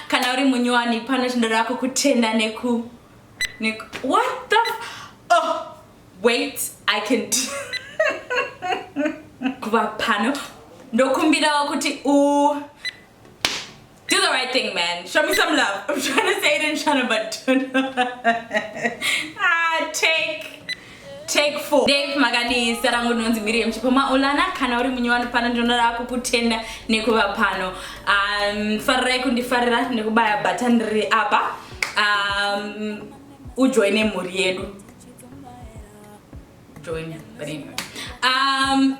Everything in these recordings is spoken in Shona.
kana uri munyowani pano tinoda kukutenda neku neku what the oh wait i can kuva pano ndokumbirawo kuti u do the right thing man show me some love i'm trying to say it in china but don't know. ah take Take four. Dave makadii zita rangu ndinonzi Miriam Chipoma Olana kana uri munyi wano pano ndinoda kukutenda nekuva pano um, farirai kundifarira nekubaya button riri apa um, ujoine mhuri yedu join but anyway. um,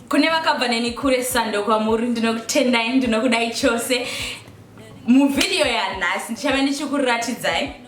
kune vakabva neni kure sando kwamuri ndinokutendai ndinokudai chose muvhidiyo yanhasi ndichave ndichikuratidzai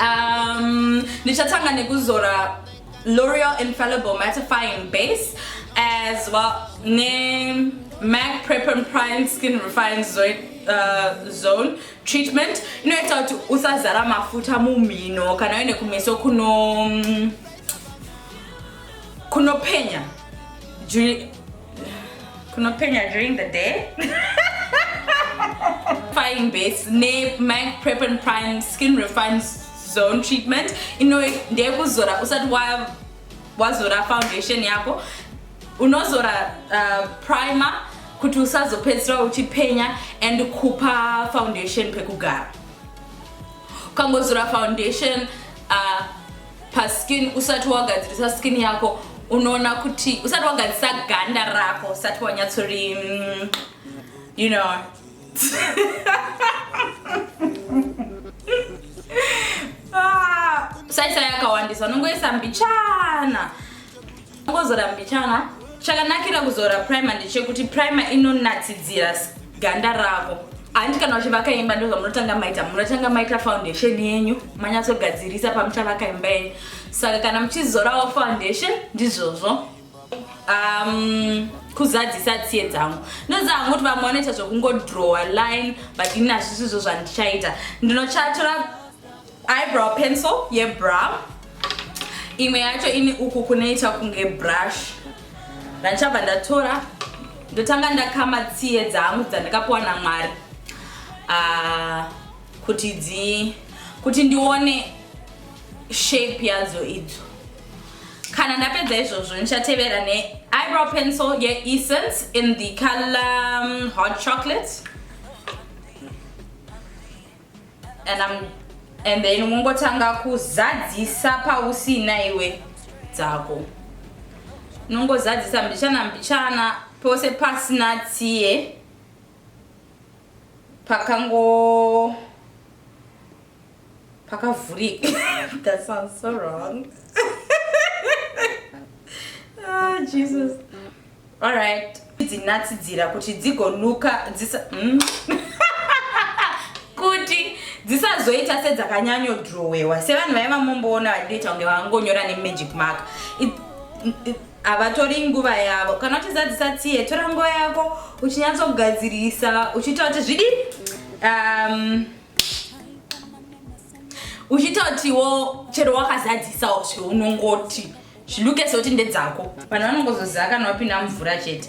Um, ndichatanga nekuzora L'Oreal Infallible Mattifying Base as well ne MAC Prep and Prime Skin Refine Zone, uh, zone treatment inoita kuti usazara mafuta mumhino kana uine kumeso kuno mm, kunopenya kunopenya during the day fine base ne mac prep and prime skin refine zone treatment ino ndeyekuzora usati wazora foundation yako unozora uh, primer kuti usazopedzisira uchipenya and kupa foundation pekugara ukangozora foundation uh, paskin usati wagadzirisa skin yako unoona kuti usati wagadzisa ganda rako usati wanyatsori mm, you know ah, saisa yakawandisa unongoisa mbichana Kuzora mbichana chakanakira kuzora primer ndechekuti primer inonatsidzira ganda rako handi kana uchivaka imba ndozvamunotanga maita munotanga maita foundation yenyu manyatsogadzirisa pamuchavaka imba yenyu saka kana muchizorawo foundation ndizvozvo um, kuzadzisa tsiye dzangu ndinoziva hangu kuti vamwe vanoita zvekungodrowa line but ini hazvisizvo zvandichaita ndinochatora eyebrow pencil yebrow imwe yacho ini uku kunoita kunge brush ndanichabva ndatora ndotanga ndakama tsiye dzangu dzandikapuwa namwari ah, kuti dzi kuti ndione shape yadzo idzo kana ndapedza izvozvo ndichatevera neeyebrow pencil yeessence in the color um, hot chocolate and I'm and then unongotanga kuzadzisa pausina iwe dzako unongozadzisa mbichana mbichana pose pasina tsiye pakango pakavhurika that sounds so wrong ah, jesus Alright. Dzinatsidzira kuti dzigonuka dzisa mm. kuti dzisazoita sedzakanyanyo drowewa sevanhu vaye vamomboona vachitoita kunge vangonyora nemagic mark havatori nguva yavo kana kuti zadzisa tsiye tora nguva yako uchinyatsogadzirisa uchiita kuti zvidi um, uchitotiwo chero wakazadzisawo zveunongoti zviluke sekuti ndedzako vanhu vanongozoziva kana wapinda mvura chete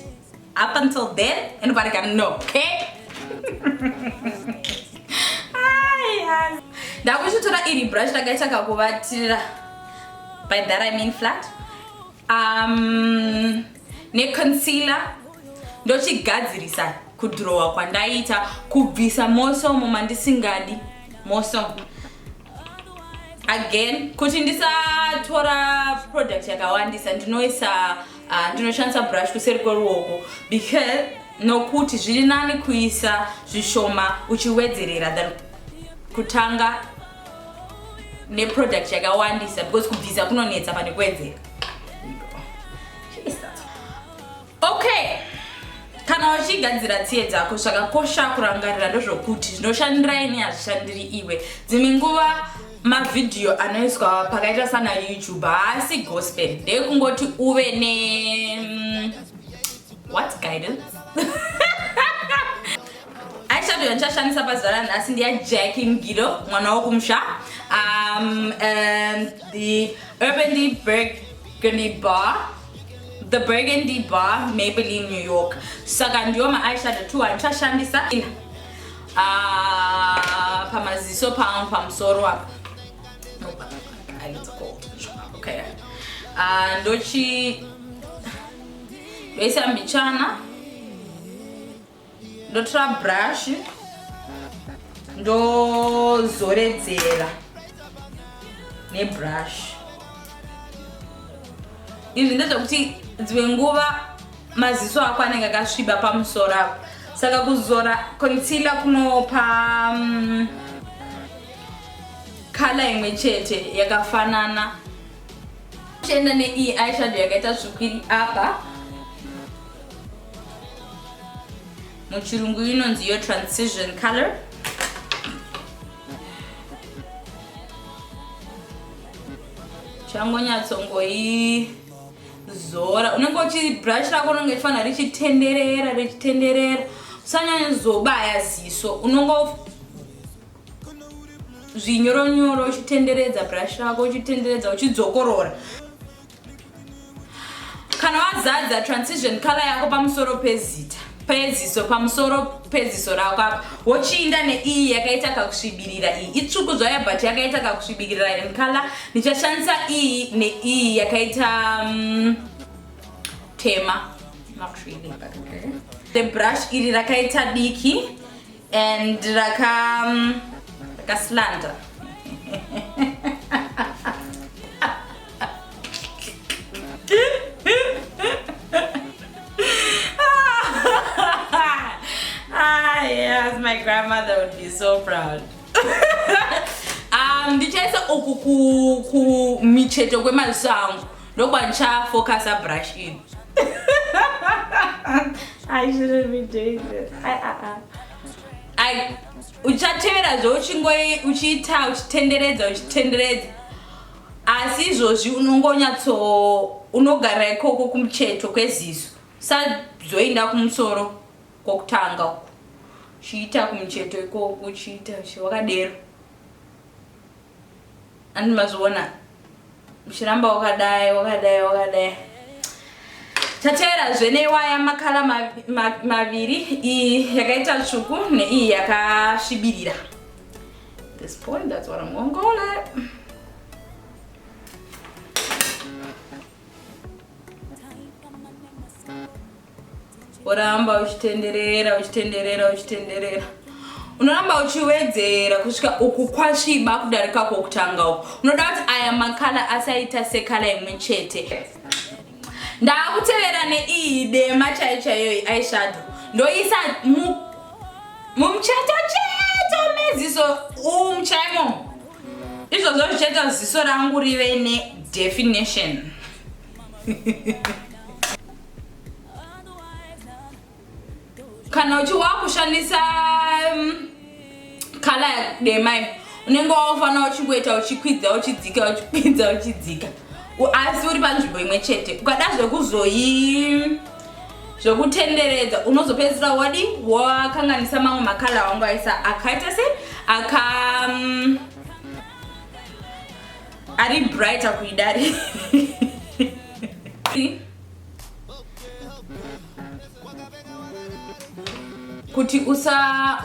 up until then anybody can know okay ndakuchitora iri brush rakaita kakuvatira by that i mean flat um, neconcealer ndochigadzirisa kudhurowa kwandaita kubvisa mosomo mandisingadi mosomo again kuti ndisatora product yakawandisa ndinoisa uh, ndinoshandisa brush kuseri kweruoko because nokuti zviri nani kuisa zvishoma uchiwedzerera than kutanga neproduct yakawandisa because kubvisa kunonetsa pane kuwedzera okay kana wachigadzira tsiye dzako zvakakosha kurangarira ndozvokuti zvinoshandira ini hazvishandiri iwe dzimwe nguva mavhidhiyo anoiswa pakaita sana youtube haasi gospel ndekungoti uve ne mm, what guidance aishato yandichashandisa pazuva ranhasi ndiya jacki mgido mwana wokumusha um, um, the urban berg bar the burgundy bar maybelline new york saka ndiyo maeyeshadow two andichashandisa ah, pamaziso pangu pamusoro apa okay. uh, ndochi ndoisa mbichana ndotora brush ndozoredzera nebrush izvi ndezvekuti dzimwe nguva maziso ako anenge akasviba pamusoro apo saka kuzora concealer kunopa mm, kala imwe chete yakafanana chienda neiyi aishado yakaita tsvuku iri apa muchirungu inonzi yo transition color changonyatsongoizora unenge uchibrush rako unenge uchifanira richitenderera richitenderera usanyanya zobaya ziso unongo zvinyoronyoro uchitenderedza brush rako uchitenderedza uchidzokorora kana wazadza transition color yako pamusoro pezita peziso pamusoro peziso rako apa wochiinda neiyi yakaita kakusvibirira iyi itsvuku zvayo but yakaita kakusvibirira in color ndichashandisa iyi neiyi yakaita um, tema not really, but okay. the brush iri rakaita diki and raka um, rakaslanda ah, yes, my grandmother would be so proud. um, ndichaisa uku kumicheto kwemaziso angu Ndokuba ndicha focusa brush in. I shouldn't be doing this. I, I, I. I uchatevera zveuchingo uchiita uchitenderedza uchitenderedza asi izvozvi unongonyatso unogara ikoko kumucheto kweziso sazoenda kumusoro kwokutanga uku uchiita kumucheto ikoko uchiita wakadero Ani mazviona uchiramba wakadai wakadai wakadai tateera zvene waya makala maviri iyi yakaita tsvuku neiyi yakasvibirira this point that's what I'm gonna call it woramba uchitenderera uchitenderera uchitenderera unoramba uchiwedzera kusvika uku kwasviba kudarika kwokutanga uku unoda kuti aya makala asaita sekala imwe chete ndaakutevera neiyi dema chai chaiyoyi aishado ndoisa mumucheto cheto meziso umuchaimo izvozvo zvichaita ziso rangu rive nedefinition kana uchi wakushandisa kala um, demai unenge wakufanira uchingoita uchikwidza uchidzika uchikwidza uchidzika asi uri panzvimbo imwe chete ukada zvekuzoyi zvekutenderedza unozopedzisira wadi wakanganisa mamwe makala wangu aisa akaita se aka um, ari brighter kuidari kuti usa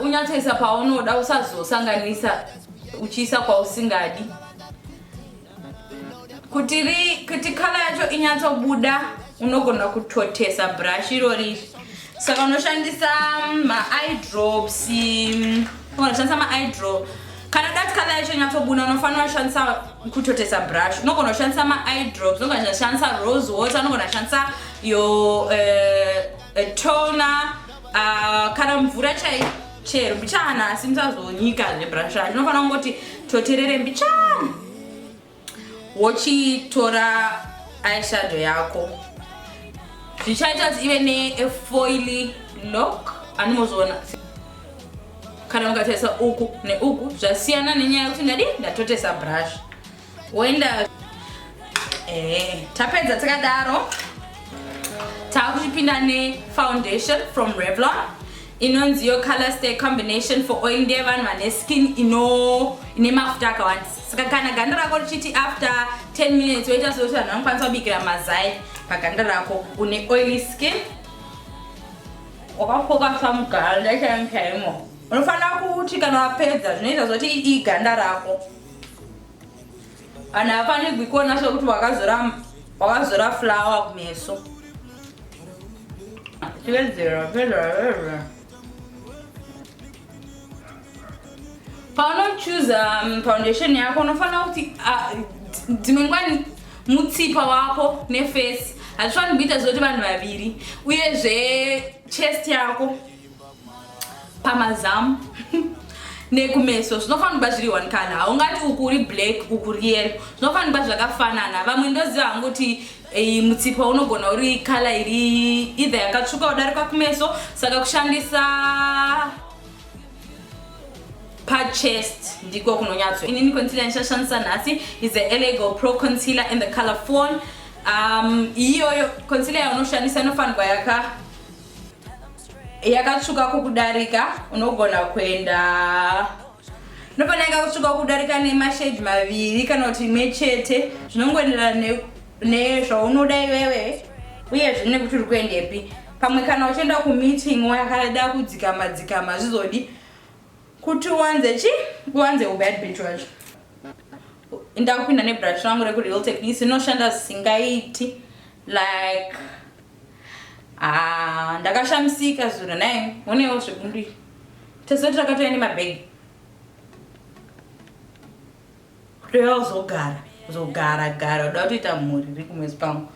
unyatsoisa paunoda usazosanganisa uchiisa kwausingadi kuti ri kuti kala yacho inyatsobuda unogona kutotesa brush irori saka unoshandisa maidrops unoshandisa maidrops kana dati kala yacho nyatsobuna unofanira kushandisa kutotesa brush unogona kushandisa maeye drops unogona kushandisa rose water unogona kushandisa yo uh, eh, eh, toner uh, kana mvura chai chero mbichana asi musazonyika zvebrusha ndinofanira kungoti toterere mbichana wochitora eyeshadow yako zvichaita kuti ive nefoily lock anomozviona kana mukatarisa uku neuku zvasiyana nenyaya yekuti ndadi ndatotesa brush woenda eh, tapedza takadaro taakuchipinda nefoundation from revlon inonzi yo color stay combination for oil ndeye vanhu vane skin ino ine mafuta akawanda saka kana ganda rako richiti after 10 minutes woita sekuti vanhu vanokwanisa kubikira mazai paganda rako une oily skin wakafoka samuganda chaimchaimo unofanira kuti kana wapedza zvinoita zoti iganda rako Kana afanigwi kuona sokuti wakazora wakazora flower kumeso. Chivedzera, chivedzera, chivedzera. Paunochuza um, foundation yako unofanira kuti ah, dzimwe nguva mutsipa wako nefesi hazvifaniri kuita zoti vanhu vaviri uyezve chest yako pamazamu nekumeso zvinofanira kuba zviri one color haungati uku uri black uku ri yellow zvinofanira kuba zvakafanana vamwe ndoziva hangu kuti eh, mutsipa unogona uri color iri either yakatsvuka udarika kumeso saka kushandisa pachest ndiko kunonyatso inini concealer ndichashandisa nhasi is the elego pro concealer in the color phone um, iyoyo concealer yaunoshandisa inofanirwa yaka yakatsvuka kukudarika unogona kuenda nopana yakatsvuka kukudarika nemashage maviri kana kuti imwe chete zvinongoenderana nezvaunoda iwewe uye zvine kuti uri kuendepi pamwe kana uchienda kumeeting wakada kudzikama dzikama zvizodi kuti uwanze chi uwanze ubad bitch wacho ndakupinda nebrush rangu rekureal technice inoshanda zvisingaiti like Ah, ndakashamisika zuro naye onewo zvebundu iyi tezoti takatouya nemabhegi kutoya uzogara uzogara gara uda kutoita mhuri ri kumwezi pangu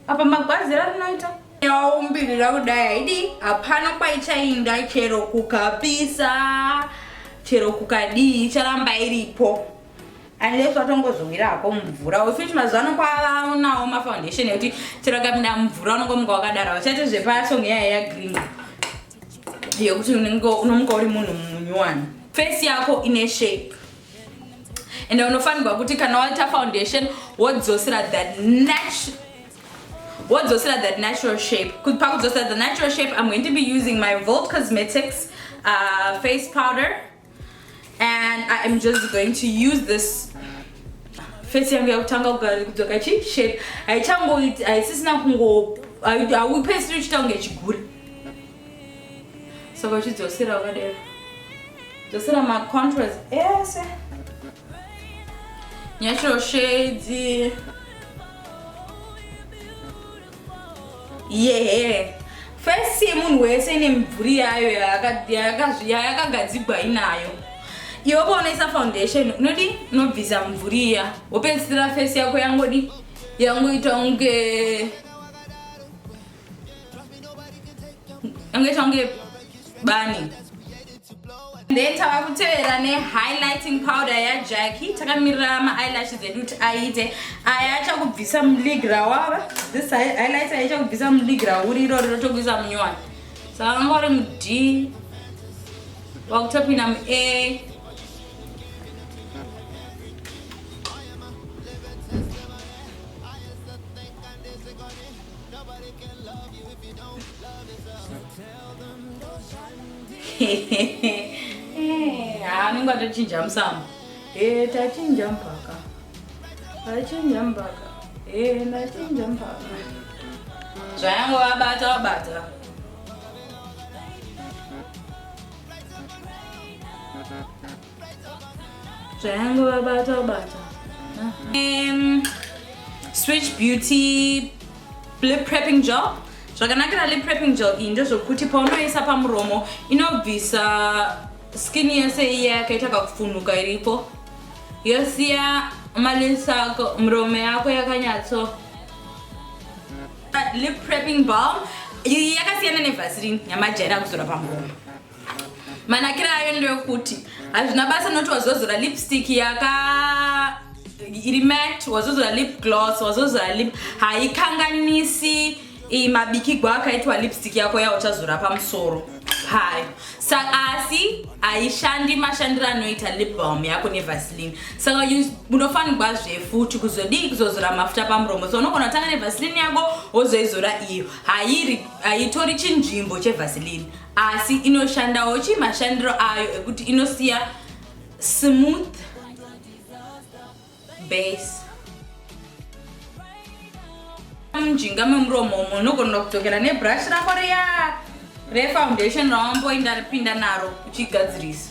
apa magwazi rarinoita yaumbirira kudai haidi hapana kwaichainda chero kukapisa chero kukadii icharamba iripo unless watongozowira hako mumvura wefit mazuva ano kwavaonawo mafoundation ekuti chero akapinda mumvura unongomuka wakadara vachati zvepasong yaya yagreen yekuti unomuka uri munhu munyuwani face yako ine shape ende unofanirwa kuti kana waita foundation wodzosera that natural wodzosera that natural shape pakudzosera the natural shape i'm going to be using my volt cosmetics uh, face powder and i am just going to use this face yangu yakutanga kudzoka chi shape haichangoiti haisisina kungo haupesiri uchiita kunge chigure saka uchidzosera wakadero dzosera macontras ese eh, natural shades yehe fesi yemunhu wese ine mibvuri yayo yayakagadzigwa inayo iwe paonoisa foundation unodi unobvisa mibvuri iya wopedzisira fesi yako yangodi yangoita unge yangoita unge bani then tava kutevera nehighlighting powder yajacki takamirira maeyelashes edu kuti aite aya achakubvisa mulig rawava this highlighter yaichakubvisa mulig rauri irori rotokuisa munyowani saka vanga uri mud wakutopinda muair anenge atochinja musamu e tachinja mpaka tachinja mpaka e ndachinja mpaka zvayango vabata vabata Zvayangu vabata ubata. Um, switch beauty lip prepping gel. Zvakanakira lip prepping gel iyi ndezvokuti paunoisa pamuromo inobvisa skin yese iya yakaita kakufunuka iripo yosiya malesi ako muromo yako yakanyatso lip prepping balm yakasiyana nevaseline yamajaira kuzora pamuromo manakira ayo ndeekuti hazvina basa noti wazozora lipstick yaka iri mat wazozora lip gloss wazozora lip haikanganisi mabikigwa akaitwa lipstick yako yauchazora pamusoro hayo asi haishandi mashandiro anoita libom yako nevaseline saka unofanirwa zvefuti kuzodii kuzozora mafuta pamuromo so unogona kutanga nevaseline yako wozoizora iyo haitori chinzvimbo chevaseline asi inoshandawo chii mashandiro ayo ekuti inosiya smooth base mujinga memuromo umo unogonera kudzokera nebrush rako riya refoundation rawamboinda ripinda naro uchigadzirisa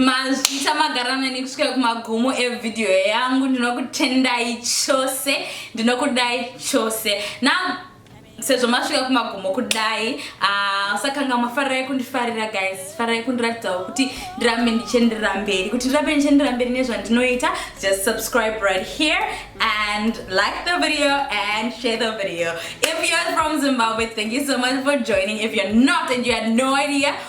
mazvita magara nani kusvika kumagumo evidhiyo yangu ndinokutendai chose ndinokudai chose na sezvo masvika kumagumo kudai ah, sakanga uh, mafarai kundifarira guys farai kundiratidzawo kuti ndirambe ndichienderera mberi kuti ndirambe ndichienderera mberi nezvandinoita just subscribe right here and like the video and share the video if you're from zimbabwe thank you so much for joining if you're not and you had no idea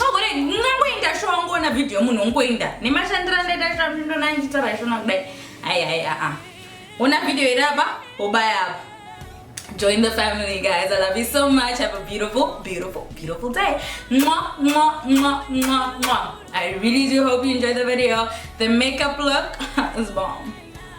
magore ngangoinda sho wangoona vhidhiyo munhu ongoinda nemashandiro andaita chamhindo nandiita raishona kudai hai hai aa ona vhidhiyo iri apa wobaya apa join the family guys i love you so much have a beautiful beautiful beautiful day mwa mwa mwa mwa mwa i really do hope you enjoy the video the makeup look is bomb